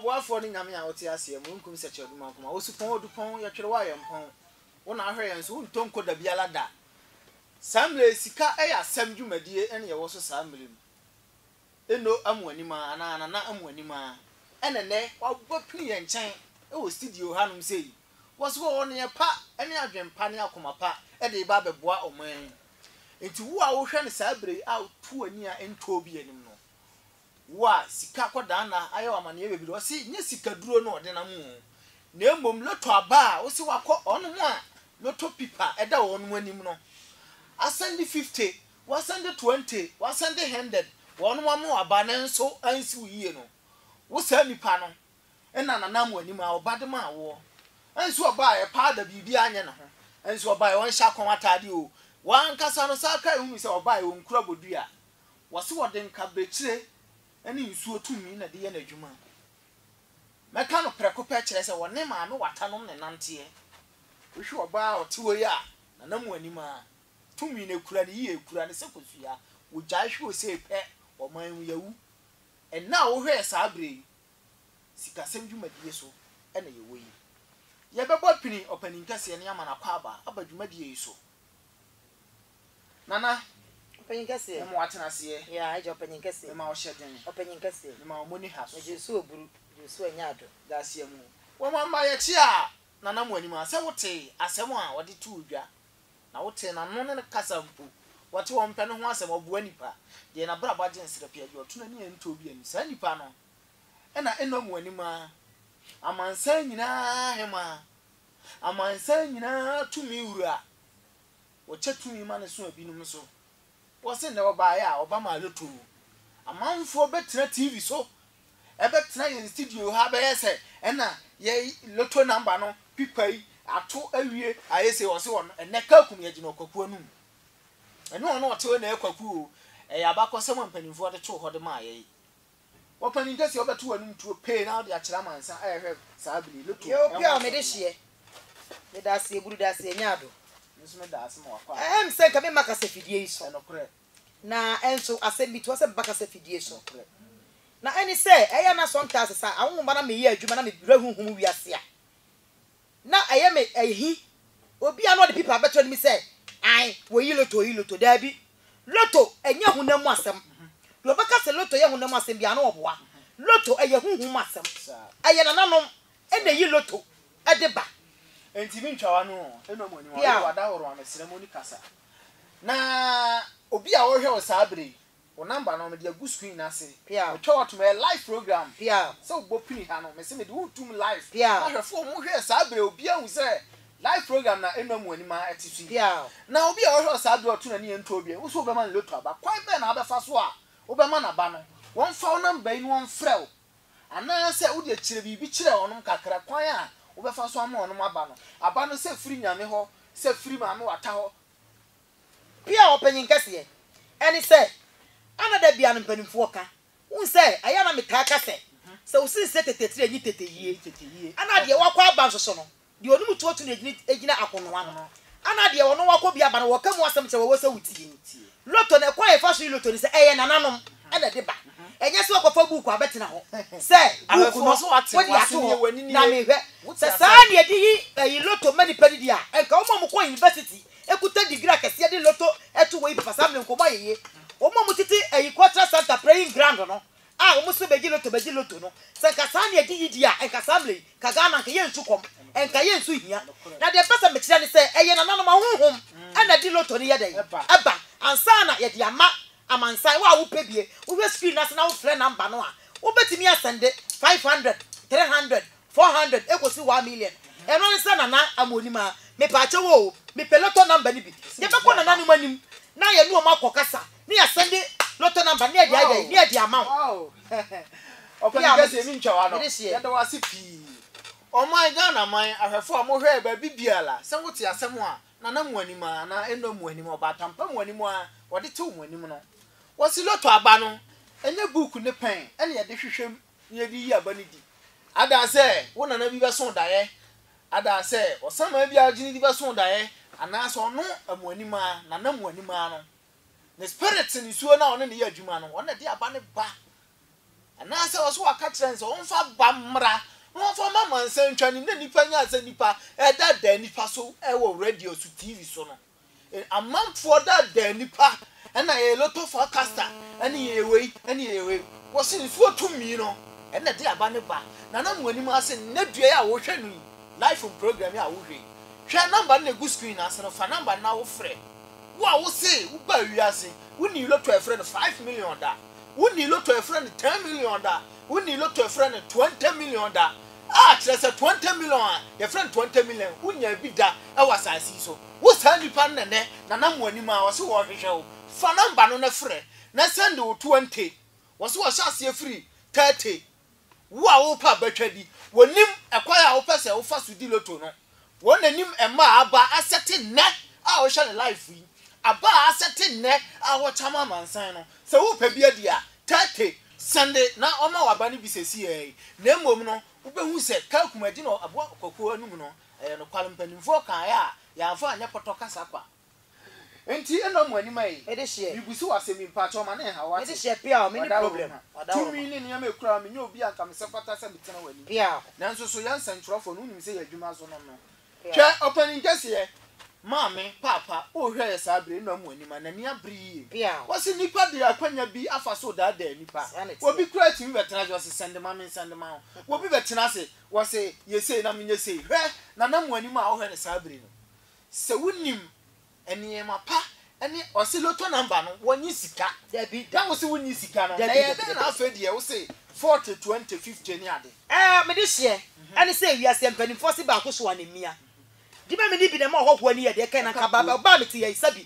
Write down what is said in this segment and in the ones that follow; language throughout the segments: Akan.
ɔboafoɔ ne Nyame a ɔte aseɛ, mununkum sɛkyɛ ɔdum ankoma, osupɔn odupɔn, yɛtwere wo a yɛmpɔn, wo na ahwɛ yɛn so, wontɔ nkɔ dabiala da. Saa mmerɛ yi sika yɛ asɛm dwumadie na yɛwɔ so saa mmerɛ mu. Eno Amoanim aa anaa Nana Amoanim aa ɛna ɛnɛ wapini yɛn nkyɛn wɔ studio hanom sei. Wɔse wɔwɔ neɛ pa ne adwen pa ne akoma pa de reba abɛboa ɔman yi. Nti wo a wohwɛ no saa berɛ yi a woto w'ani a ɛntɔɔ bi anim no, wo a sika akɔdanna ayɛ wo amaneɛ bebree, wɔse nyɛ sikaduro na ɔde nam oo, na mmom lotto aba a wose wakɔ, wɔnom a lotto pipa da wɔnom anim no, asɛnde 50 Wɔasan de twenty, wɔasan de hundred, wɔnom ama wo aba nanso ansi wo yie no, wo saa nnipa no na nanam w'anim a ɔba de maa woɔ. Ɛnso ɔbaeɛ, powder biribiara anyɛ ne ho, ɛnso ɔbaeɛ, ɔnhyɛ akɔn ataadeɛ oo, w'ankasa no saa kra hunu sɛ ɔbaeɛ ɔnkura bodua. Wɔse wɔde nkabekyire ne nsuo tumi na ɛde yɛ n'adwuma. Mɛka no prɛko pɛ kyerɛ sɛ wɔne maame watanom na ɛnanteɛ. Wohwe ɔbaa a ɔte hɔ yi a nanam w'anim a. tumi no kura no yie kura no sɛ kosua wogyae hwe osei pɛ ɔman mu yawu ɛnna a wohwɛɛ saa berɛ yi sikasɛm dwumadie so na yɛwɔ yi yɛbɛbɔ pini ɔpanin kɛseɛ ne amana akwaaba aba dwumadie yi so nana ɔpanin kɛseɛ mema watena aseɛ yɛ agya ɔpanin kɛseɛ mema ɔhyɛ den ɔpanin kɛseɛ mema ɔmo ni ha so megye so oburu gye so anya ado daseɛ mu wɔn mma yɛkye a nana mo anim a sɛ wotee asɛm a wɔde too dwa Na wotee n'ano ne ne kasa mpo. Wɔte wɔn pɛ no ho asɛm, ɔboa nnipa. Deɛ n'abrabɔ agye nserɛpee, agye ɔtono ani a ɛntɔ bi ani. Saa nnipa no na ɛnnɔ mo anim ara, amansan nyinaa Hemmaa, amansan nyinaa Tumi Wura. Wɔkyɛ tumi ma no so ebinom so. Wɔse nnɛ wɔbaeɛ a wɔba maa yɛtoo. Amanfoɔ bɛtena TV so ɛbɛtena yɛn studio ha bɛyɛ sɛ ɛna yɛ lotto number no pipa yi ato awie ayɛ sei wɔse wɔn ɛnɛ Kakum yɛgyina ɔkwaku anum ɛne wɔn ɔte hɔ na ɛyɛ kwaku o ɛyɛ abakɔsɛm a mpanimfoɔ de too hɔ de maa yɛn. Ɔpanin kɛseɛ wobɛto w'anom tuo pee na wode akyerɛ amansan ɛɛ hwɛ saa bere yi loto ɛho asɛm no. Yɛ obi a mede hyeɛ. Meda ase aburu da ase ɛnyɛ ado. Me nso meda ase ma wakɔ ado. Ɛm sɛ nka memma kasa fidie yi so. Ɛnokorɛ. Na ɛnso asɛm bi toa sɛ meba kasa fidie so. Nokorɛ. Na ɛne sɛ ɛyɛ a na sometimes saa awonwomma na meyɛ adwuma na me werɛ honhom wiase a. Na ɛyɛ me ahi. Obi a na ɔde pipa bɛto anim sɛ, Ae, wɔyi loto, wɔyi loto. Daabi. Loto nyɛ honam mu asɛm. Deɛ ɔbɛka sɛ loto yɛ honam mu asɛm biara no, ɔboa. Loto, ɛyɛ honhom mu asɛm. Ɛyɛ nananom na ɛyi loto de ba. Enti mentwa w'ano nnom w'ani, wɔde w'adahoroɔ amesrɛ mu ne kasa. Na obi a ɔrehwɛ wo saa berɛ yi, Wo number no mede agu screen no ase Metwa wo atom ɛyɛ live program Sɛ wobɔ pini ha no mese mede wo retom live Na ahwɛfoɔ ɔmo hwɛ saa berɛ obiara hu sɛ Live program na ɛno amu anim ara ɛte so yi Na obi a ɔhwɛ wo saa berɛ ɔto n'ani yɛ ntoɔ biɛ Wose wobɛma no lotto aba Kwan bɛn na wobɛfa so a wobɛma no aba no Wɔmfa wo number yi na wɔmfrɛ wo Anaasɛ wodeɛ kyerɛ biribi kyerɛ wɔnom kakra Kwan a wobɛfa so ama wɔnom aba no Aba no sɛ firi Nyame hɔ Sɛ firi Maame Wata hɔ Bi a ɔpanyin kɛseɛ ɛne sɛ ana da biaa no mpanimfoɔ ka wohu sɛ ɛyɛ a na metaa ka sɛ sɛ wo sensɛ tete tire nye tete yie ana deɛ wakɔ aba nsoso no deɛ ɔne mu tuotu no gyina akonoa no ana deɛ ɔne wakɔ bi aba no wɔka mu asɛm kyerɛ wɔ sɛ wo tie ni lotto no ɛkwan a yɛfa so yi lotto ne sɛ ɛyɛ nananom ɛna ɛde ba ɛnyɛ sɛ wakɔ fa buuku abɛtena hɔ sɛ buuku no wode ato hɔ na mehwɛ sɛ saa ne yɛde yi lotto ma nipa no di a ɛnka wɔn a wɔkɔ university Ekuta degree akɛseɛ de lotto to wɔ yi papa saa mmerɛ nkɔmɔ ayɛ yie wɔn a wɔtete ɛyi cultural centre praying ground no a wɔn nso bɛgye lotto bɛgye lotto no sɛ nka saa ne ɛde yidie a nka saa mmerɛ yi nka Ghana nka yɛn nsu kɔm nka yɛn nsu hia na deɛ mpɛ sɛ mekyerɛ ne sɛ ɛyɛ nananom ahonhom ɛna ɛde lotto no yɛ dɛn ɛba ansa na yɛde ama amansan wo a wo pɛ bie wo hwɛ screen no ase na wo frɛ number no a wo bɛtumi asɛnde five hundred three hundred Four hundred ekosi one million ɛno ne sɛ Nana Amonim a mepaakyɛw oo mepɛ lotto number no bi yɛbɛkɔ Nana nom anim na yɛne wɔn akɔ kasa na yɛasɛnde lotto number no na yɛde ayɛ dɛn na yɛde ama wo Ɔpɛni kɛseɛ me ntwa w'ano yɛda wo ase pii Ɔman Ghana man ahwɛfoɔ a mo hwɛ baabi biara sɛ wo te asɛm a Nana Moanim a anaa Eno Moanim a Ɔbaatampa Moanim a wɔde tew mo anim no wɔse lotto aba no ɛnyɛ book ne pɛn na yɛde hwehwɛ mu na yɛde yi aba no di. Ada sɛ wo nana bi bɛso daeɛ, ada sɛ ɔsamaa bi a ɔgye no di bɛso daeɛ, anaa sɛ ɔno amuanimaa, nana muanimaa no, ne spirit nisuo no a ɔne no yɛ adwuma no, ɔno na ɛde aba no ba. Anaasɛ ɔso aka kyerɛ no sɛ wɔmfa aba mmra na wɔmfa mma amansan ntwa anim na nnipa nya sɛ nnipa ɛda da nnipa so wɔ radio so, TV so no. Amanfoɔ daadaa nnipa na yɛyɛ loto forecaster ne yɛyɛ wei ne yɛyɛ wei. Wɔse nsuo tumi no na ɛde aba no ba. Nana mo anim ase nnɛ dua yi a wohwɛ no yi life mu program yi a wohwɛ yi. Hwɛ number no na ɛgu screen no ase no fa number no na wofrɛ. Wo a wose wobaa wiase wonnii loto a yɛfrɛ no five million da. Wonnii loto a yɛfrɛ no ten million da. Wonnii loto a yɛfrɛ no twenty million da. a kyerɛ sɛ twenty million a yɛfrɛ no twenty million wo nyaa bi da wɔ asase yi so wo saa nipa no na nɛ na nam wɔ anim a wɔ se wɔ hwehwɛ wo fa number no na frɛ na sɛnde wo twenty wɔ se wɔ hyɛ aseɛ firi thirty wo a wo pɛ abatwa di wɔ nim ɛkwan a wo pɛ sɛ wo fa so di loto no. Wɔn anim mmaa aba asɛte nnɛ a wohwɛ ne life yi aba a asɛte nnɛ a wɔkyam amansan no sɛ wopɛ bi adi a Tete sɛnde na ɔma wo aba no bi sɛsi ara yi na mmom no wobɛhu sɛ Kakum agyina aboa kwakuo anum no ɛyɛ nokware mpanimfoɔ kaeɛ a yɛamfa anyɛ pɔtɔ kasa kwa. Nti nna ɔmo anim aye. Mibusu wo asem bi mpakyɛw ma ne nhaw wo ate. Wada wo ho. Tumi ne nneɛma ekura wo menyɛ obi a nka mesɛ fata sɛ metena w'anim. Nanso so yɛ nsɛnkyerɛwfoɔ no wonim sɛ yɛ adwuma so nom no. Hwɛ ɔpanin kɛseɛ. Maame, paapa, o hwɛ yɛ saa bere nna ɔmo anim a n'ani abere yie. Wɔse nnipa de akwanya bi afa so redaadaa nnipa. Obi koraa tumi bɛtena ase ɔse sɛnde ma me sɛnde ma wo. Obi bɛtena ase wɔse yɛ sei na menyɛ sei. Hwɛ Nana mo anim a wohwɛ no saa bere no. Sɛ wonim nneɛma pa ne ɔse lotto number no wɔnye sika. Dabi da wose wonni sika no na ɛyɛ dɛn na afei deɛ wose forty twenty fifty ne ade. Ɛɛ mede hyeɛ ɛne sɛ wiase mpaninfoɔ se baako soa ne mia. Dibɛ mene bi na ɛma ɔhɔhoɔ ani yɛ deɛ kɛn na nka baa baa ɔbaa me te yɛyi sɛbi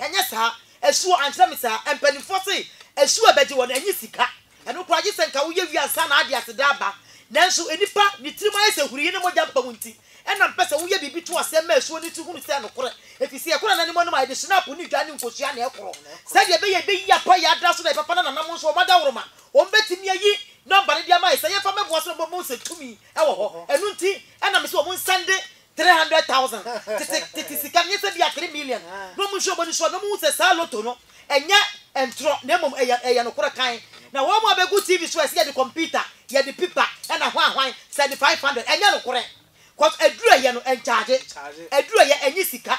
Ɛnyɛ saa. Asuo ankyerɛ me saa. Mpanimfoɔ se asuo a ɛbɛgye wɔn, ɛnyɛ sika. Ɛno koraa gye sɛ nka woyɛ wie ansa na ade aseda aba. Nanso nnipa, ne tirim ayɛ sɛ hurii ne mogya mpam nti, ɛna mpɛ sɛ woyɛ biribi to aseɛ ma asuo no tu hunu sɛ nokorɛ. Ɛfiri sɛ ɛkora nananom anom a, ɛde hyenapo ne dwa ne nkosua na ɛkoro. Sɛdeɛ ɛbɛyɛ ɛbɛyi apa yɛ ada so na ɛbɛfa no nanam nso, wɔn adaworoma, wɔbɛtumi ayi nɔmba no de ama yɛ sɛ yɛmfa mmɛboa so na wɔbɛma wɔahu sɛ tumi wɔ hɔ. Ɛno nti, ɛna mese wɔn nsan de Three hundred thousand tete tete sika nyɛ sɛ bia three million na ɔmo nhwɛ ɔmo ani so a na ɔmo hu sɛ saa lotto no ɛnyɛ ntorɔ na mmom ɛyɛ ɛyɛ nokorɛ kann na wɔn a bɛgu TV so a ɛsɛ yɛde kɔmputa yɛde pipa ɛna hwan hwan sɛde five hundred ɛnyɛ nokorɛ cos aduru ɛyɛ no ɛnkyagye aduru ɛyɛ ɛnye sika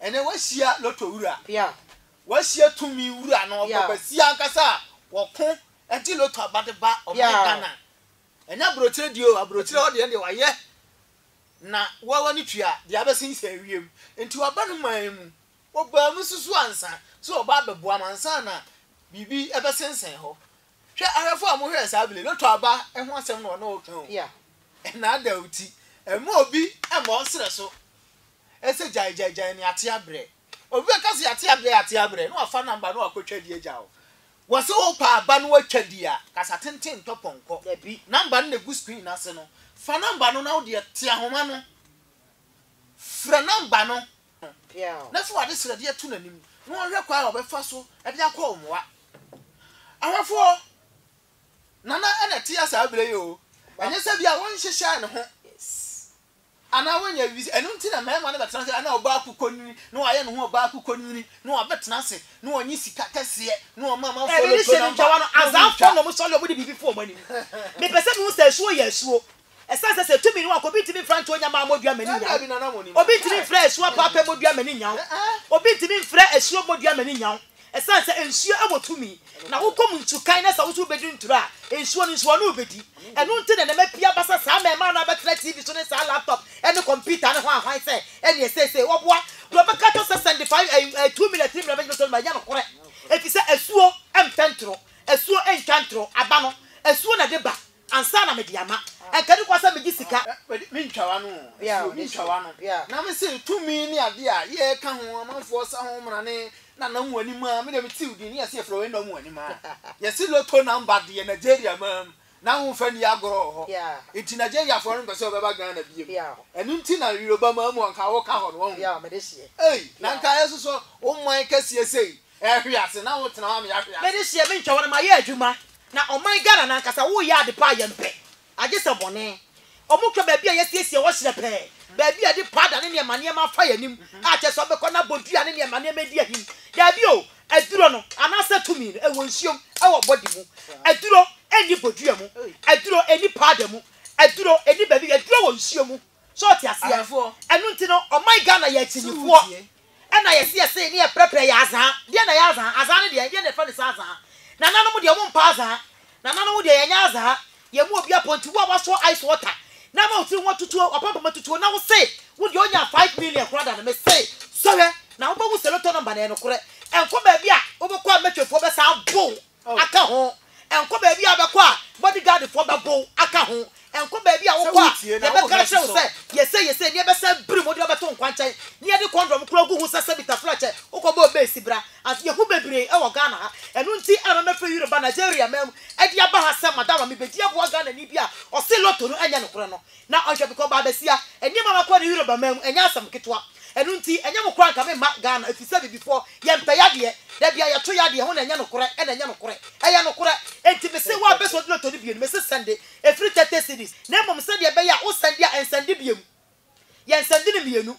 Ɛnnɛ woahyia lotto wura. Woahyia tumi wura no ɔpɛ basia ankasa a wɔko gye lotto aba de ba ɔman Ghana. Ɛnyɛ abrokyire deɛ o, abrokyire hɔ deɛ ɛndeɛ wayɛ na woa w'ani tua deɛ abɛsen sɛ ɛwiem. Nti waba no man mu, wɔbaa mu susu ansa sɛ wɔba abɛboa mo ansa na biribi ɛbɛsensɛn hɔ. Hwɛ ahwɛfoɔ a mohwɛɛ saa bile, lotto aba ho asɛm na wɔne wo reka o. Ɛnnaadaw ti, ɛmma obi mma ɔnsrɛ so. ɛsɛ gyae gyae gyae ne ate abrɛ obi bɛka sɛ yɛate abrɛ yɛate abrɛ na wafa number na wakɔ twa di agya o wɔse wopɛ aba na watwa di a kasa tenten ntɔ pɔnkɔ dabi number no na ɛgu screen no ase no fa number no na wodeɛ te ahoma no frɛ number no na fa wade srɛdeɛ to n'anim na ɔhwɛ kwa a ɔbɛfa so de akɔ mmoa ahwɛfoɔ nana ɛna ɛteɛ saa berɛ yi o ɛnyɛ sɛ bia wɔnhyehyɛ ne ho Anaa wanya awi, ɛno nti na mmarima no bɛtena ase, anaa ɔbaa kukɔnini na wayɛ ne ho ɔbaa kukɔnini na wabɛtena ase na wɔnye sika kɛseɛ na wɔma amanfoɔ no ɛbɛde hyɛ ne ntwawa no, azaafoɔ na wɔsɔre a wɔde biribi fo wɔn anim. Mepɛ sɛ mehu sɛ asuo yɛ asuo, ɛsiane sɛ sɛ ɛtumi no anka obi ntumi mfra Ntonya Mmaa Mmɔdua Mmani Nyaw, obi ntumi mfra Asuo Apaapa Mmɔdua Mmani Nyaw, obi ntumi mfra Asuo Mmɔdua Mmani Nyaw, Ɛsiane sɛ nsuo wɔ tumi na wokɔm ntu kan na sɛ wo nso wobɛdi nturo a, nsuo no nso ɔne wobɛdi. Ɛno nti na nneɛma pii aba sɛ saa ma ɛmaa no a bɛtena TV so ne saa laptop ne kɔmputa no ho ahwan sɛ ɛneɛ seesei wɔboa deɛ ɔbɛka kyerɛ wo sɛ sɛnde five ɛɛ two minutes three minutes bɛtɔ no mu a ɛnyɛ nokorɛ ɛfiri sɛ asuo mfɛ nturo, asuo ntwa nturo aba no asuo na de ba. Ansa na mede ama. Anka ɛne kwa sɛ megye sika. Me ntwa w'ano o, ɛsɛ obi ntwa w'ano. Na me se tumi ne adeɛ a yɛreka ho, amanfoɔ sa ho mmara ne Nana Muanima, me deɛ mete wo din, yɛse yɛfrɛ wo Enah Muanima. Yɛse lotto number deɛ Nigeria mmaa mu, n'ahofa nni agorɔ wɔ hɔ. Nti Nigeriafoɔ no mpɛ sɛ wɔbɛba Ghana biom. Ɛno nti na Yoruba mmaa mu anka woka hɔ no, wahu. Ei, na anka ɛsosɔ wo man kɛseɛ sei, Ɛhwe ase na wo tena hɔ ama yɛahwe ase. Mede hyɛ me ntwɛwɔ no ma yɛ adwuma na ɔman Ghana no ankasa wo yɛ ade paa yɛn pɛ agye sɛ bɔne ɔmo kura baabi a yɛasiesie hɔ hyerɛ pɛɛ baabi a yɛde paada ne nneɛma nneɛma afa yɛn anim a kyerɛ sɛ ɔbɛkɔ na abɔ dua ne nneɛma nneɛma adi ahim daabi o aduro no anaasɛ tumi no ɛwɔ nsuom ɛwɔ body mu aduro ɛnni bodua mu aduro ɛnni paada mu aduro ɛnni baabi aduro wɔ nsuo mu. So wote aseɛ? Ɛno nti no, ɔman Ghana yɛ akyinnyefoɔ na yɛse yɛse ne yɛprɛprɛ yɛ azaa. Deɛn na ɛyɛ azaa? Azaa no deɛn? Deɛn na yɛfrɛ no saa azaa? Nananom deɛ wɔmpɛ azaa. Nananom deɛ yɛnyɛ azaa. Yɛn mu obiara pɔ nti wo a woasɔ ice water na ama wo tiri ho atutuo, w'apampam atutuo na wose wo deɛ wonyaa five million koraa da no, mese sɔhwɛ na wobɛhu sɛ lotto number no yɛ nokorɛ. Ɛnkɔ baabi a wobɛkɔ a mɛtwafoɔ bɛsan abow. aka ho, ɛnkɔ baabi a wobɛkɔ a bɔdegaadfoɔ bɛbow aka ho, ɛnkɔ baabi a wokɔ a yɛbɛka akyerɛ wo sɛ yɛ sei yɛ sei na yɛbɛsan biri mu de wo abɛto nkwankyɛn na yɛde kɔndɔm koraa gu ho sɛ sɛ Bitafla kyɛ wokɔbɔɔ base bra ase. Yɛhu bebree wɔ Ghana ha. Ɛno nti na mɛfiri Europe ba Nigeria man mu de aba ha sɛ madam a mebɛdi aboa Ghanani bi a ɔse lotto no nyɛ nokorɛ no. Na ɔhwɛ me kɔ ɔbaa basia. Nneɛma a makɔ ne Europe aman mu, ɛnyɛ asɛm ketewa. Ɛno nti, ɛnyɛ mo koraa nka memma Ghana, ɛfiri sɛ Abibifoɔ, yɛmpɛ yadeɛ. Dabi a yɛto yadeɛ ho na ɛnyɛ nokorɛ, ɛna ɛnyɛ nokorɛ. Ɛyɛ nokorɛ. Enti mese wo a bɛsɔ de lotto no bio no, mese sɛnde. Ɛfiri thirty cedis. Na mmom sɛdeɛ ɛbɛyɛ a wo sɛnde a, ɛnsɛnde bio. Yɛnsɛnde no mmienu.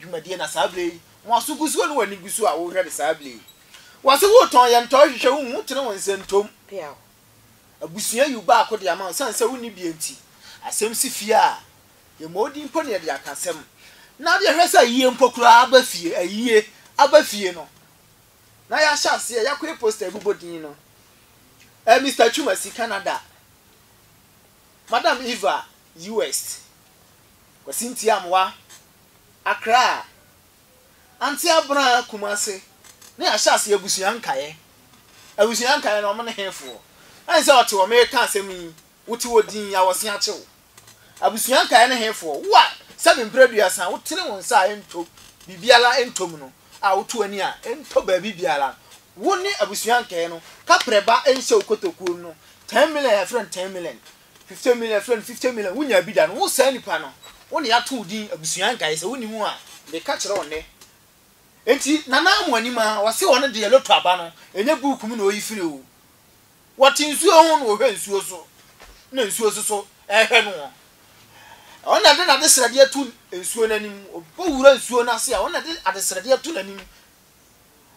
dwumadie na saa berɛ yi wɔn aso gu so ne wɔn ani gu so a wohwɛ no saa berɛ yi wɔse wotɔn yɛ ntɔn hwehwɛ wo hu tene wo nsa ntom peaw abusua yiw baako de ama wo sane sɛ wonni bie nti asɛm si fie a yɛmmɔ wo din mpo ne yɛde aka asɛm na deɛ hwɛ sɛ ayie mpo koraa aba fie ayie aba fie no na yɛahyɛ aseɛ yɛakɔyɛ poster abobɔ din no eh, Mr. Twumasi Canada Madam Eva US. Kwasi Ntiamoa, Accra, Ante Abena Kumasi ne ahyɛase abusua nkaeɛ. Abusua nkaeɛ no wɔn ne hefoɔ? Ɛne sɛ ɔte hɔ mereka asɛm yi wote hɔ dinn awɔse akye wo. Abusua nkaeɛ ne hefoɔ? Wo a sɛbe mprɛduasa wotene wo nsa a ɛntɔ biribiara ɛntɔ mu no a woto w'ani a ɛntɔ baabi biara wo ne abusua nkaeɛ no kaprɛba nhyɛ wo kotokuo mu no ten million a yɛfrɛ no ten million Fifty million yɛfrɛ no fifty million wonyaa bi da no wo saa nipa no wo na yɛato wo din abusua nkaeɛ sɛ wonni mu a meka kyerɛ wo nnɛ enti Nana Amoah nim a ɔse ɔno deɛ lotto aba no ɛnyɛ book mu na ɔyi firi o wɔte nsuo ho na ɔhwɛ nsuo so na nsuo so so ɛhwɛ no wɔn ɔno na ɛde n'adesrɛdeɛ ato nsuo no anim ɔbɔ wura nsuo no ase a ɔno na ɛde adesrɛdeɛ ato n'anim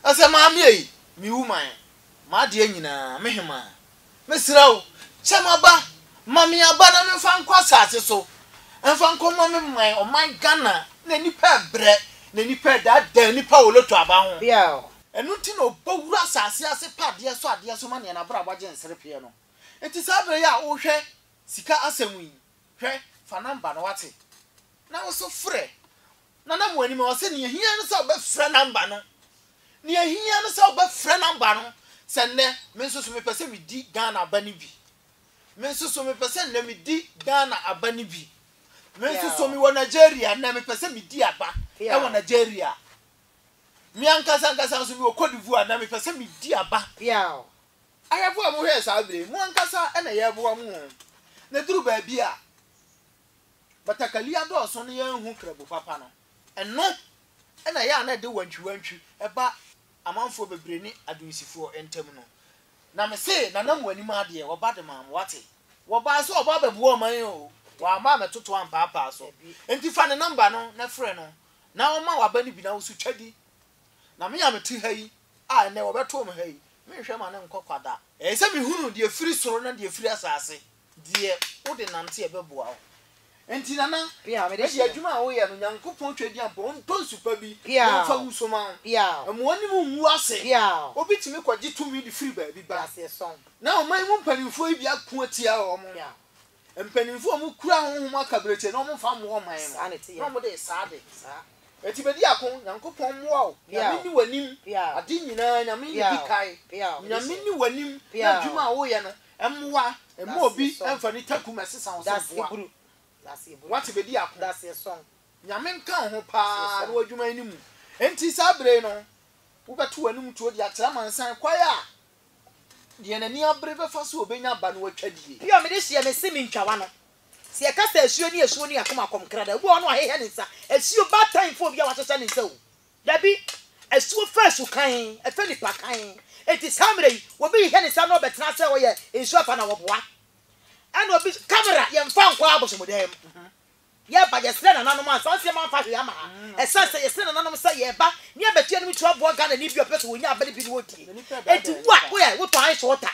ɛsɛ maame ei me woman m'adeɛ nyinaa me hemaa Mesrɛ wo, kyɛ m'aba. Ma me aba na memfa nkɔ asase so mfa nkɔma me man, ɔman Ghana, na nnipa rebrɛ, na nnipa redaadaa nnipa wɔ lotto aba ho. Biao. Ɛno nti na ɔbɔ wura asase ase pɛ adeɛ so adeɛ so ma neɛ n'abrabɔ agye nserepeɛ no. Nti saa berɛ yi a wohwɛ sika asɛm yi, hwɛ, fa number no wate, na wo nso frɛ, Nana mo anim a ɔse nea ehia ne sɛ wobɛfrɛ number no nea ehia ne sɛ wobɛfrɛ number no sɛ nnɛ me nso so mepɛ sɛ medi Ghana aba no bi me nso so mepɛ sɛ nnɛ medi Ghana aba no bi me nso so mewɔ Nigeria nnɛ mepɛ sɛ medi aba ɛwɔ Nigeria me ankasa ankasa nso mewɔ Cote d'Ivoire nnɛ mepɛ sɛ medi aba ahwɛfo a mohwɛɛ saa bere mo ankasa ɛna yɛboa mo na duru baabi a batakari adɔɔso na yɛanhu krabu papa no. Ɛno na ɛyɛ a na ɛde wantwiwantwi ba amanfoɔ bebree ne Adunsifoɔ ntam no. Na mese, Nana mo anim adeɛ, wɔba de maa mo, wate? Wɔbaa sɛ wɔba abɛboa ɔman yi oo, wɔamma ammɛtoto ampaapaa so. Enti fa ne nɔmba no na frɛ no na ɔmma w'aba no bi na wo nso twa di. Na me a mete ha yi, a ɛnnɛ wɔbɛtoo me ha yi, menhwɛ m'ano nnkɔ kwa da. Ɛyɛ sɛ mehunuu deɛ ɛfiri soro na deɛ ɛfiri asase. Deɛ wode nante ɛbɛboa wo. Enti Nana, mede adwuma a woyɛ no, Nyankopɔn Twɛdeɛ mpo, ɔntɔ nsu pa bi na ɔmfa ngu so ma wo. Mma w'anim nngu ase. Obi tumi kɔgye tumi de firi baabi ba, na ɔman mu mpanimfoɔ yi de ako atia wɔn. Mpanimfoɔ a wɔkura honhom akaberɛkyɛ no, wɔmfa mmoa ɔman no, na wɔde resa ade. Enti bɛdi ako. Nyankopɔn mmoa wo. Nyame nni w'anim. Ade nyinaa, Nyame na ɛdi kae. Nyame nni w'anim na adwuma a woyɛ no, Mmoa, Mma obi mfa ne taku mmɛsesa wo sɛ boa. Woate, bedi ako. Nyame nka wo ho paa na w'adwuma yi no mu. Enti saa bere yi no, wobɛto w'anom tuo de akyerɛ amansan kwan a deɛ n'ani abere bɛfa so a obenya aba no atwa die. Pio, mede hyeɛ me se mentwa w'ano. Sɛ yɛka sɛ asuo ne asuo ne yɛn akoma kɔm kra da. Obi wɔ hɔ no wahehɛ ne nsa. Asuo baatan fofo bi a wahyehyɛ ne nsa o. Dabi, asuo fɛ su kann, ɛfɛ nipa kann. Enti saa mmerɛ yi, obi hyehyɛ ne nsa na ɔbɛtena sɛ ɔyɛ nsuo afa na wɔboa. Ɛna obi nso, camera, yɛmfa nkɔ abosomdan mu. Yɛba, yɛsrɛ nananom a saa nneɛma mfa hwee ama ha. Ɛsɛ sɛ yɛsrɛ nananom sɛ yɛba na yɛbɛto yɛn anim to aboa Ghanani bi a ɔpɛ sɛ ɔnya abere bi na ɔdie. Enti wo a woyɛ, wotɔn ice water,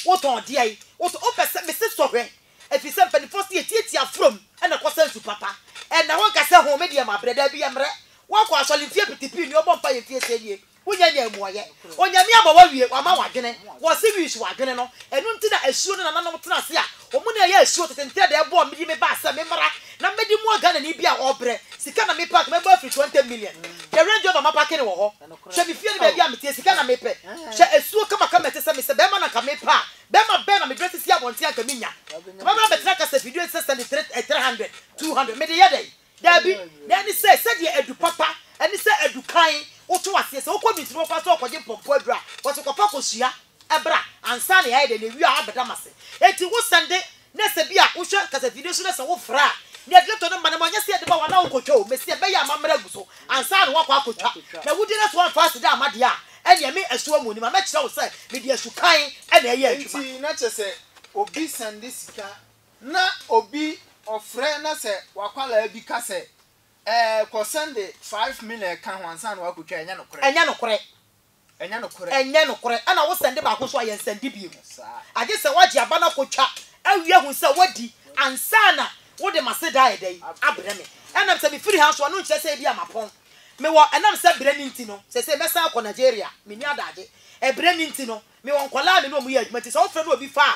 wotɔn deɛn, wotɔn, wopɛ sɛ, mese sɔhwɛ, Efisɛ mpanimfoɔ se yɛtiatia afuram na ɛkɔsa nsu papa. Ɛnna wɔka sɛ, Ho, me deɛ mabrɛ, daabi yɛmmrɛ. Woakɔ asɔre mfeɛ piti pii, nea ɔbɔ mpaeɛ mfeɛ sei nie, wonnya nyaa mmuaeɛ. Onyame ama woawie, wama wo adwene. Wɔse wii so adwene no, ɛno nti na asuo no nananom tena ase a wɔn na ɛyɛ asuo tete ntɛɛdɛɛ ɛboɔ a mede me baa sɛ memmra na mede mmoa Ghanani bi a ɔrebrɛ. Sika na mepaake, mɛbɔ afiri 20 million. Hwɛ Range Rover mapaake no wɔ hɔ. Hwɛ me fie ne baabi a mete, sika na mepɛ. Hwɛ asuo kamakama a ɛte sɛ me sɛ barima na anka mepɛ a Bɛrima bɛn na mede asisi abɔnten a anka minnya? Ka bɛbra bɛtena kasafidie a ɛsɛ sɛnde three eh, three hundred, two hundred, mede yɛ dɛn? Daabi, na ɛne sɛ, sɛdeɛ adu papa ɛne sɛ adu kann, woto aseɛ, sɛ wokɔ Mintiri Bɔfo ase na wokɔgye mpɔmpɔ aduru a, wɔse kɔfa kɔsua bra ansa na yɛayɛ dɛn? Na ɛwie a abɛda m'ase. Enti wo sɛnde Na sɛ bi a wohwɛ kasafie no so na sɛ wofra a, nea ɛde tɔ no ma no ma ɛnyɛ sɛ yɛde ba wo a na wokɔtwa o, meseɛ bɛyɛ a mammara agu so ansa na woakɔ akɔtwa. Na wodi na sɛ woamfa aseda amma deɛ a, ɛnneɛ me asuo mu nim a mɛkyerɛ wo sɛ mede asukan na ɛyɛ adwuma. Enti na kyerɛ sɛ obi sɛnde sika na obi ɔfrɛ na sɛ w'akwadaa bi ka sɛ ɛɛ kɔ sɛnde five million ka ho ansa na woakɔtwa a, ɛnyɛ nokorɛ. Ɛnyɛ nokorɛ. Ɛnyɛ nokorɛ. Ɛnyɛ nokorɛ. Ɛna wo sɛnde baako nso ayɛ nsɛnde biemu. Agye sɛ wagye aba no akɔtwa awie ahu sɛ wadi ansa na wode m'aseda ayɛ dɛn? Abrɛ me. Ɛnam sɛ mefiri ha nso a, no nkyerɛ sɛ ebia mapɔn. Mewɔ, ɛnam sɛ berɛ no nti no, seesei mɛsan akɔ Nigeria. Menni adagye. Ɛberɛ no nti no, mewɔ nkwadaa a me ne wɔn yɛ adwuma nti sɛ wofrɛ na obi fa a,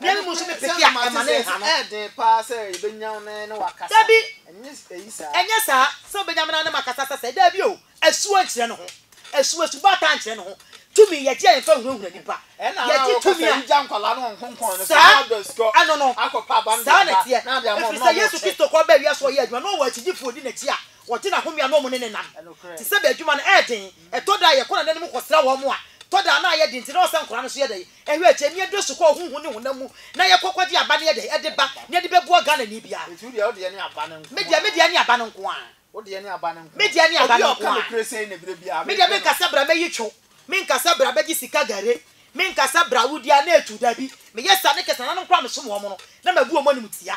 Ɛno nso ne peke a ɛma ne nha no. Dabi, ɛnyɛ saa, sɛ wobenya me na ne makasa sɛ sɛɛ. Dabi o, asuo nkyerɛ ne ho. Asuo, asubaataa nkyerɛ ne ho. Tumi, yɛgye a yɛmfa nhunahuna nnipa. Yɛgye tumi a, saa, ɛno no, saa na ɛteɛ. Ɛfiri sɛ Yesu Kristo kɔ baa wiase ɔyɛɛ adwuma, na ɔwɔ akyidifo a wɔdi n'akyi a wɔgye n'ahome a na wɔne no nam. Te sɛ bɛ adwuma no, ɛyɛ den. Ɛtɔ da a, yɛkɔ n'ananom kɔsra wɔn a, tɔ da a na ayɛ den nti na ɔsɛ nkwadaa no nso yɛ dɛn? Ɛhɔ akyi, ani dɔ su kɔɔ honhom ne honam mu na yɛkɔ kɔgye aba ne yɛde de ba na yɛde bɛboa Ghanani biara. Enti wo deɛ, wo deɛ ne aba no nko ara. Me deɛ, me deɛ ne aba no nko ara. Wo deɛ ne aba no nko ara. Me deɛ ne aba no nko ara. Obi a ɔka nokorɛ sei na berɛ biara mepɛ no. Me deɛ menka sɛ bra mɛyi two, menka sɛ bra bɛgye sika gare, menka sɛ bra wodi a na ɛtu, dabi, meyɛ saa ne kɛse nananom koraa a mesom wɔn no na mabu wɔn animtia.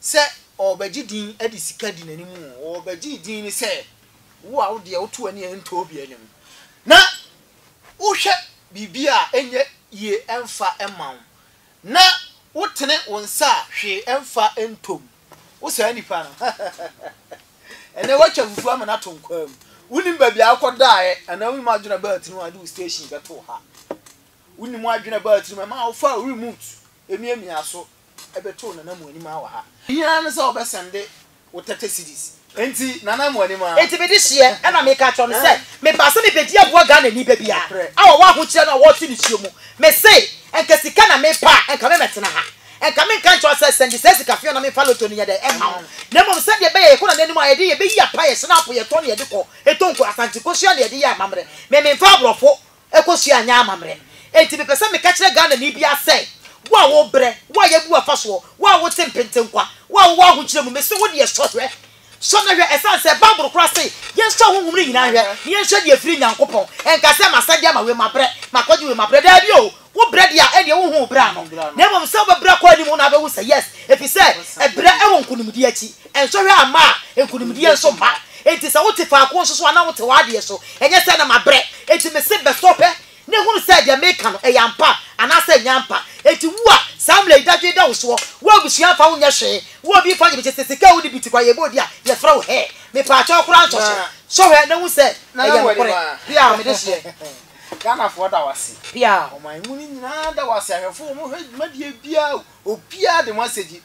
sɛ ɔrebɛgye din de sika di n'anim oo, ɔrebɛgye din ne sɛ wo a wo deɛ woto w'ani a ɛntɔ obiara anim na wohwɛ biribi a ɛnyɛ yie ɛmfa mma wo na wotene wo nsa a hwee ɛmfa ntɔ mu. Wo saa nipa no ɛnɛ woatwa fufuo ama no ato nkwaa mu. Wonim baabi a wokɔdaeɛ anaa wonim adwene a ɛbaa tirim a wode wo station bɛtoo ha. Wonim adwene a ɛbaa tirim a ɛmaa wofaa wo remote miamiaa so bɛtoo Nana Amuanima wɔ ha. Ne hia ara ne sɛ ɔbɛsɛnde wo thirty cedis. Enti Nana Amuanima. Enti mede hyeɛ ɛna meka kyerɛ no sɛ mebaa sɛ mebɛdi aboa Ghanani ba biara a ɔwɔ ahokyerɛ no a wɔreto nisuo mu. Mese nka sika na mepɛ a nka memmɛtena ha. Nka menka nkyerɛ wo sɛ sɛnde saa sika feɔɔ na memfa lotto no nyɛ dɛn mma wo. Na mmom sɛdeɛ ɛbɛyɛ a yɛkɔ Nana anim a yɛde yɛbɛyi apa, yɛhyɛne apo, yɛtɔ na yɛde kɔ, ɛtɔ nkuo, Asante kosua na yɛde yɛ amammerɛ. Me memfa aborɔfo Ɛkɔ so a nyɛ amammerɛ. Enti mepɛ sɛ meka kyerɛ Ghanani biara sɛ, Wo a wobrɛ, wo a yɛabu w'afasoɔ, wo a wote mpentenkwa, wo a wowɔ ahokyerɛ mu, mese wo deɛ sɔ hwɛ. Sɔ na hwɛ, ɛsiane sɛ Bible koraa se yɛnsɔ ahonhom no nyinaa nhwɛ, na yɛnhwɛ deɛ ɛfiri Nyankopɔn. Ɛnka sɛ, Masɛdeɛ ama wei, mabrɛ, makɔgye wei, mabrɛ. Daabi o! Wobrɛ deɛ a, ɛnneɛ wonhu wo brɛ ano. Na mmom sɛ wobɛbrɛ akɔ anim no na wobɛhu sɛ, yes, ɛfiri sɛ ɛbrɛ wɔ nkonimdie akyi. Nsɔhwɛ amma a, nkonimdie nso mma. Enti sɛ wote faako nso so anaa wote w'adeɛ so, ɛnyɛ sɛ na mabrɛ. Enti mese bɛsɔhwɛ na hunu sɛ deɛ meka no, ɛyɛ ampa anaasɛ ɛnyɛ ampa. Enti wo a, saa mmara yi dadwen da wo soɔ, wo abusua mfa wo nyɛ hwee, wo obi mfa nyɛ biribi, sese sika a wode bi ti kwa yɛbɔ di a, yɛfrɛ wo hɛɛ. Mepaakyɛw koraa nsɔ so. Sɔhwɛ na hu sɛ ɛyɛ nokorɛ. Piaa, mede hyeɛ. Ghanafoɔ da wo ase. Piaa. Ɔman mu no nyinaa da wo ase. Ahwɛfoɔ, wɔhwɛ dwumadie biara o. Obiara de mo asɛdi.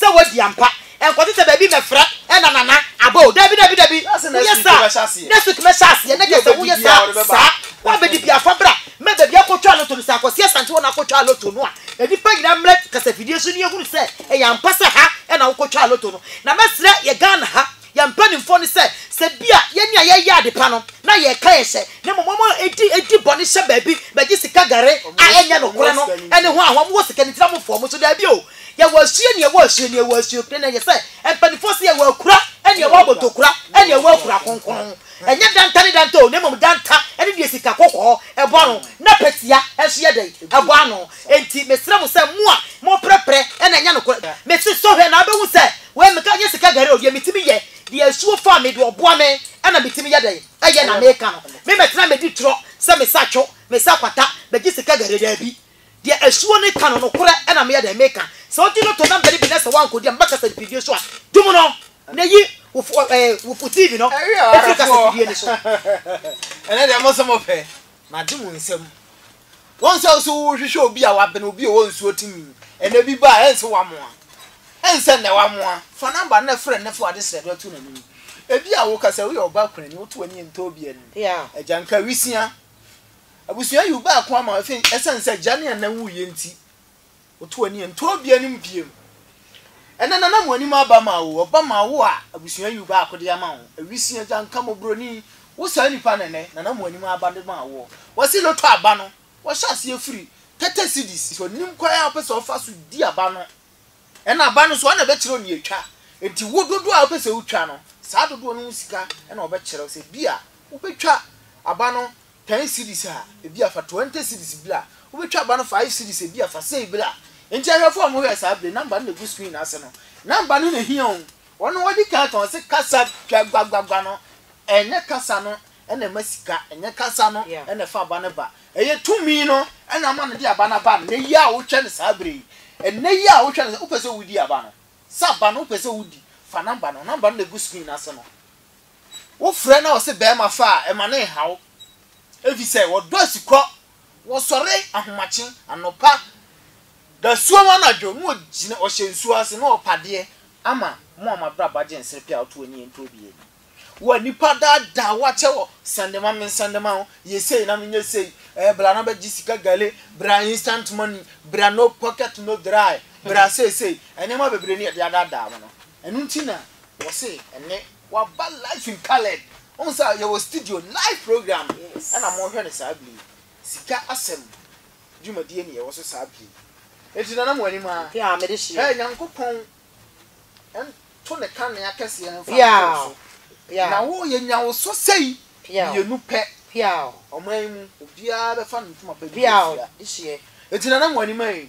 Sɛ wadi ampa. Ɛnkɔte sɛ baabi mɛfrɛ na Nana aba o. Dabi, dabi, dabi. Woyɛ saa a, next week mɛhyɛ aseɛ. Ne kyerɛ sɛ woyɛ saa a, saa. Woabɛdi bi a, fa bra. Mɛ baabi akɔtwa loto no, sɛ akɔsi Asante hɔ na akɔtwa loto no a, nnipa nyinaa mmrɛ kasafidie so na yɛhunu sɛ ɛyɛ ampa sɛ ha na wokɔtwaa loto no. Na mɛsrɛ yɛ Ghana ha. Yɛn mpanimfoɔ no sɛ, sɛ ebia yɛn a yɛyɛ ade pa no na yɛka yɛn hyɛ, na mmom wɔn a edi edi bɔne hyɛ baabi bɛgye sika gare a ɛnyɛ nokorɛ no ɛne ho a wɔn wɔ sika no nti na wɔfoa wɔn so daabi o yɛwɔ asuo nea ɛwɔ asuo nea ɛwɔ asuo ɛna ɛyɛ sɛ mpanimfoɔ sɛ yɛwɔ akura ɛne ɛwɔ abotokura ɛne ɛwɔ akura kronkron Ɛnyɛ danta ne danta o, na mmom danta ne deɛ sika kɔkɔɔ bɔ ano, na pasia nso yɛ dɛn? bɔ ano. Enti mesrɛ mo sɛ, mo a moprɛprɛ na ɛnyɛ nokorɛ, mese sɔ hwɛ na wobɛhu sɛ wei meka nyɛ sika gari o, deɛ metumi yɛ, deɛ asuo faa me, deɛ ɔboa me na metumi yɛ dɛn? yɛ na meka no. Memmɛtena mmɛdi torɔ sɛ mesa atwo, mesa kwata, megye sika gari, daabi. Deɛ asuo no ka no, nokorɛ na meyɛ dɛn? Meka. Sɛ wodi no to nambari bi na sɛ woankɔdi a, mɛbɛka sɛ mfidie so a, dum no na yi wo fo eh, wo fo TV no firi kasafidie no so. Ɛnɛ deɛ mo nso mopɛ. Magye mo nsam. Wɔn sɛ wo nso worehwehwɛ obi a wabene obi ɔwɔ nsuo tumi. Ɛnɛ bi ba a, ɛnse woamoa. Ɛnsɛ nnɛ woamoa. Fa namba no na frɛ no na fa w'adesrɛ no to n'anim. Ebia woka sɛ woyɛ ɔbaa kunani, woto w'ani ntɔ obi anim. Agya nka wisea. Abusua yiw baako ama afei esiane sɛ agya ne ɛna wuiɛ nti, woto ani nto obi anim bio. Ɛnɛ nana mo anim aba ma wo, ɔba ma wo a abusua yiw baako de ama wo. Awisi, agyanka, mmɔborɔni, wo saa nipa na ɛnɛ nana mo anim aba de ma woɔ. Wɔse loto aba no, wɔhyɛ aseɛ firi thirty cedis. Sɛ ɔnim kwan a ɔpɛ sɛ ɔfa so di aba no Ɛna aba no nso wɔn na ɛbɛkyerɛ nea etwa. Enti wo dodoɔ a wopɛ sɛ wotwa no, saa dodoɔ no ho sika na wɔbɛkyerɛ wo. Sɛ ebia wobɛtwa aba no ten cedis a, ebia fa twenty cedis bra. Wobɛtwa aba no five cedis a, ebia fa sei bra. Enti ahwɛfoɔ a wɔhwɛ saa bere number no na egu screen ase no, number no na ehia o. Wɔn na wɔdi kan ka, wɔse kasa twa gbagbagba no, ɛnyɛ kasa no na ɛma sika, ɛnyɛ kasa no na ɛfa aba no ba. Ɛyɛ tumi no na ama no de aba no aba nnɛ yi a wotwa no saa berɛ yi. Nnɛ yi a wotwa no, wopɛ sɛ wodi aba no, sɛ aba no wopɛ sɛ wodi, fa namba no, namba no na ɛgu screen no ase no. Wofrɛ na ɔse barima fa a, ɛma no nha wo. Ɛfiri sɛ wɔdɔ asikɔ. Wɔsɔre ahomakye, anɔpa, dasuom anadwo na ɔgyina, ɔhyɛ nsuo ase na ɔrepadeɛ ama mo a mo abrabɔ agye nsere pɛ a woto ani nto obiara anim. Wo a nnipa daadaa wo akyɛ wɔ sɛndema me nsɛndema ho, yɛ sei na menyɛ sei, eh, bra na bɛgye sika gale, bra instant money, bra no pocket no dry, bra seesei, nneɛma bebree ne yɛde adaadaa wo no. Ɛno nti na wɔse ɛnnɛ wɔaba life in coloured. Wohu sɛ yɛwɔ studio, live program ɛna morehwɛ no saa bere yi. Sika asɛm dwumadie ne yɛwɔ so saa bere yi. Enti nana mo anim aa. Mpe a mede hyeɛ. Hɛ Nyankopɔn nto ne kanea kɛseɛ mfa ntoo so. Na wo, yɛnya wo so sei, mmienu pɛ. Ɔman yi mu obiara bɛfa ne ntoma pa bi ahyia. Enti Nana Muanimai,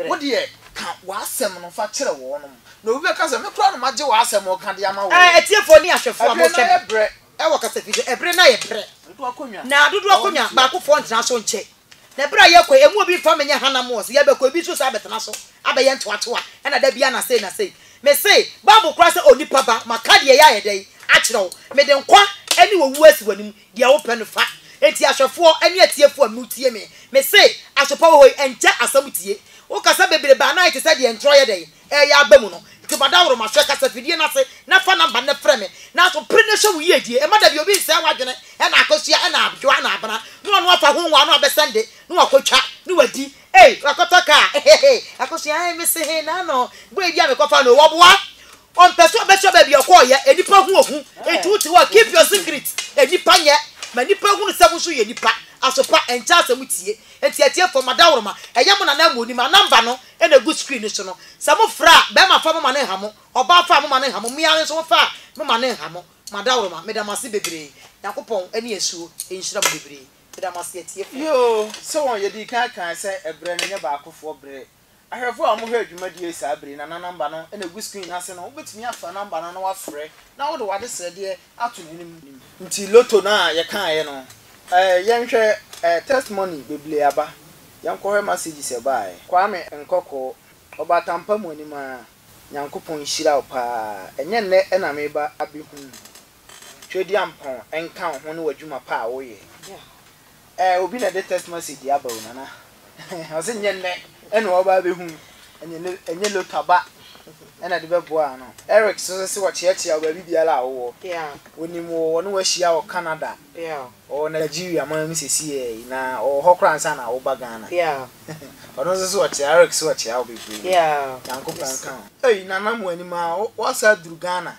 wo deɛ ka w'asɛm no fa kyerɛ wɔnom. Na obi bɛka sɛ, me koraa na magye w'asɛm reka de ama wo o. Atiefoɔ ne ahwɛfoɔ a mohwɛ me wɔ kasafidie, ɛbere no ayɛ brɛ, na dodoɔ akonnwa baakofoɔ ntena so nkyɛ. Na bere a yɛkɔ yi, emu obi mfa me nyɛ hanam wɔ so, yɛbɛkɔ, ebi nso saa abɛtena so abɛyɛ ntoatoa, ɛnna da biara na sei na sei. Mise, Bible koraa sɛ, Onipa ba, maka deɛ ɛyɛ a yɛdɛ yi akyerɛ wo, mede nkwa ne owuo asi w'anim, deɛ wopɛ no fa. Enti ahwɛfoɔ ne atiefoɔ a motie me, mise, Asopa wɔ hɔ yi, ɛnkyɛ asɛm tie. Wokasa bebrebe a na ayɛ te sɛ deɛ ntorɔ yɛ dɛ yi, reyɛ aba mu no. Enti bɔ daworo ma hwɛ kasafidie no ase na fa nɔmba no frɛ me. Nanso pere na hyɛ wo yiedie. Mma da bi obi nsɛe w'adwene na akosua na abdwoa na abena na ɔno afa ho nwaa na wabɛsɛnde na wakɔtwa na wadi ei wakɔtɔ kaa ehehee akosua ei mese hee na no boy bi a mekɔfaa no o wɔboa ɔmpɛ sɛ ɔbɛkyerɛ baabi a ɔkɔɔyɛ nnipa hu ohu enti wote hɔ a keep your secret nnipa nyɛ ma nnipa hunu sɛ mo nso yɛ nnipa asopa ɛnkyɛ asɛm tie enti atiefoɔ ma daworo ma ɛyɛ mo nana amu onim a nɔmba no Ɛna egu screen no so no, sɛ mo fra a, bɛɛma fa mo ma no nha mo, ɔbaa fa a mo ma no nha mo, mmea nso mo fa a mo ma no nha mo. Madawroma, meda mo ase bebree. Nyankopɔn ɛne asuo nhyira mo bebree. Meda mo ase atiefoɔ. Yoo, sɛ wɔn yɛdii kan kae sɛ ɛberɛ no nyɛ baakofoɔ berɛ. Ahwɛfoɔ a wɔhwɛɛ dwumadie yi saa berɛ yi na na number no na ɛgu screen no ase no, wobɛtumi afra number no na wafrɛ na wode w'adesrɛdeɛ ato n'anim nti lotto no a yɛkaeɛ no eh yɛnhwɛ eh test money beblee aba yɛnkɔhwɛ messages ɛbaeɛ. Kwame Nkɔkɔɔ, Ɔbatampa mu anim ara, Nyankopɔn nhyira wo paa, ɛnyɛ nnɛ na meba abɛhunu wo. Tweduampɔn nka wo ho ne w'adwuma pa a woyɛ. Eh obi na ɛde text message aba o nana ɔse nyɛ nnɛ ɛna ɔba abɛhu ɛnyɛ lota ba ɛna de bɛboa ano Eric so se wɔkyeakyea ɔbaabi biara a wowɔ wɔnim wo wɔne wahyia wɔ Canada ɔwɔ Nigeria man mu sesiei na ɔwɔ hɔ koraa ansa na woba Ghana ɔno nso so ɔkyea Eric so ɔkyea wo bebree Nyankopɔn nka ho. Ei nana mo anim aa woasan aduru Ghana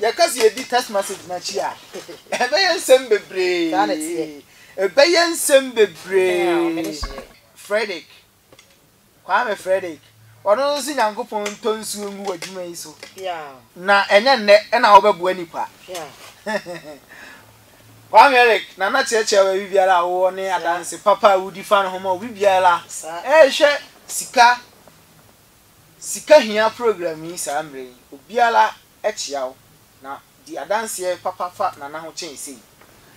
Yɛka sɛ yɛdi text message no akyi a, ɛbɛyɛ nsɛm bebree. Ɛbɛyɛ nsɛm bebree. Frederick, Kwame Frederick, ɔno nso sɛ Nyankopɔn ntɔ nsuo ngu w'adwuma yi so. Na ɛnyɛ nnɛ ɛna wobɛboa nipa. Kwame Eric, Nana kyerɛkyerɛ baabi biara a wowɔ ne adanse papa a wodi fa no ho ma obi biara ɛrehwɛ sika Sika hia program yi saa mmerɛ yi obiara akyia wo na di adanseɛ papa fa Nana ho kyɛn sei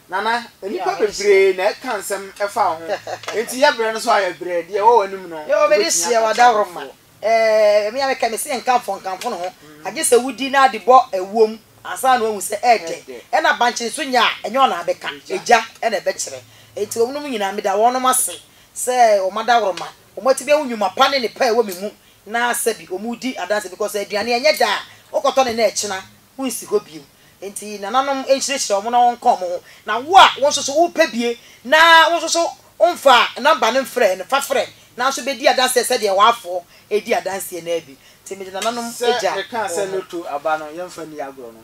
Nana nnipa bebree na ɛka nsɛm ɛfa wo ho enti yɛ brɛ no so a yɛ brɛ deɛ ɛwɔ w'anim no wobɛtumi aka kyerɛ nkurɔfoɔ. Ɛɛ me a meka mese nkamfo nkamfo ne ho agye sɛ wodi na de bɔ ɛwoɔ mu ansa na wahu sɛ ɛɛdɛ ɛna bankye nso nyɛ a ɛnyɛ ɔna abɛka egya ɛna ɛbɛkyerɛ enti wɔnom nyinaa meda wɔnom ase sɛ wɔn adaworoma Wɔatumi ahu nnwuma pa ne nnepa a ɛwɔ me mu na sɛbi wɔredi adanse because sɛ aduane ɛnyɛ da a wokɔtɔ no na ɛkyena wonsi hɔ bio nti nananom nhyirahyira wɔn na wɔnka wɔn ho na wo a wo nso so wopɛ bie na wo nso so womfa number no mfrɛɛ no fa frɛ na nso bɛdi adanseɛ sɛdeɛ w'afoɔ redi adanseɛ no ara bi nti mede nananom Sɛ gya meka wɔn sɛ ho. no to aba no yɛmfa nni agorɔ no.